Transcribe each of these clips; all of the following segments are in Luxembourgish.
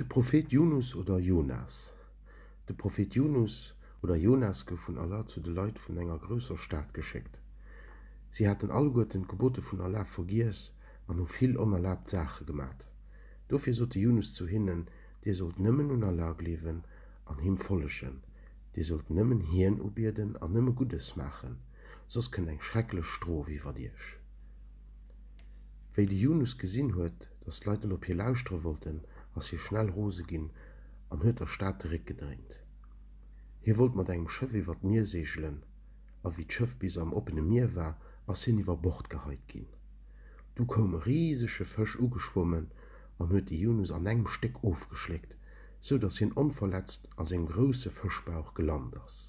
De Prophet Junus oder Jonas De Prophet Junus oder Jonas gouf vun Allah zu de Leit vun enger grousser Stad geschéckt. Si haten alleguerten d'Gebote vun Allah vergiess an hu vill onerlaabt Saache gemat. Dofir sot de Junus zu hinnen, Dir sollt nëmmen un Allah gleewen an Him follegen. Dir sollt nëmmen Hien ubieden an nëmme Guddes maachen, soss kënnt eng schrecklech Strof iwwert iech. Wéi de Yunus gesinn huet, datt d'Leit net op hie lauschtere wollten, ass hie schnell rose ginn an huet der Stad de Réck gedréint. Hie wollt mat engem Schëff iwwer d'Mier seegelen, a wéi d'Schëff bis am oppene Mier war, ass hien iwwer Bord geheit ginn. Du koum e risege Fësch ugeschwommen an huet de Yunus an engem Stéck ofgeschléckt, sou datt hien onverletzt a sengem grousse Fëschbauch gelant ass.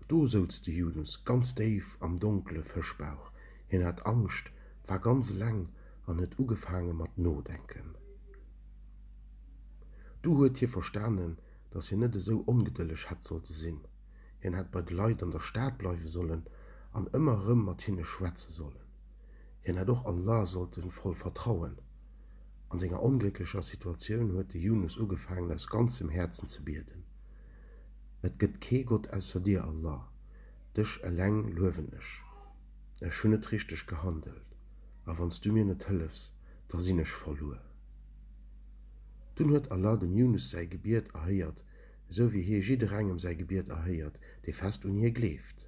Do souz de Yunus ganz déif am donkele Fëschbauch, Hien hat Angscht, war ganz eleng an huet ugefaange mat nodenken. Du huet hie verstanen, datt hien net esou ongedëlleg hätt sollte sinn. Hien hätt bei de Leit an der Stad bleiwe sollen an ëmmer erëm mat hinne schwätze sollen. Hien hätt och Allah sollte voll vertrauen. An senger onglécklecher Situatioun huet de Yunus ugefaangen aus ganzem Häerzen ze bieden, Et gëtt kee Gott ausser Dir, Allah, Dech eleng luewen ech. Ech hunn net richteg gehandelt, a wann s du mir net hëllefs, da sinn ech verluer. Dunn huet Allah dem Junus säi Gebiet erhéiert, esou wéi Hie jidderengem säi Gebiet erhéiert, dee fest un Hie gleeft.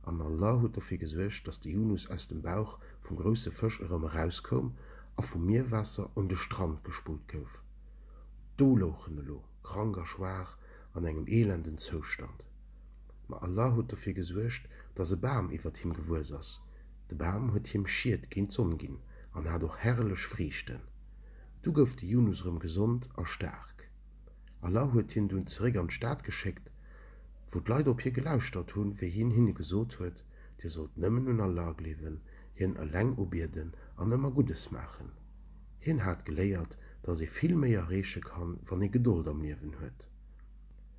An Allah huet dofir gesuergt, dass de Junus aus dem Bauch vum grousse Fësch erëm erauskoum a vum Mierwaasser un de Strand gespullt gouf. Do louch en elo. krank a schwaach, an engem elenden Zoustand. Ma Allah huet dofir gesuergt, dass e Bam iwwert him gewuess ass. De Bam huet him Schied géint d'Sonn ginn an hat och herrlech Friichten. Du gouf de Junus erëm gesond a staark. Allah huet hien dunn zeréck an d'Stad geschéckt, wou d'Leit op hie gelauschtert hunn, wéi hien hinne gesot huet, Dir sollt nëmmen un Allah gleewen, hien eleng ubieden an ëmmer Guddes maachen. Hien hat geléiert, dass ee vill méi erreeche kann, wann ee Gedold am Liewen huet.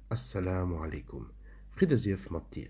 As-Salamu Alaikum, Fridde sief mat dir!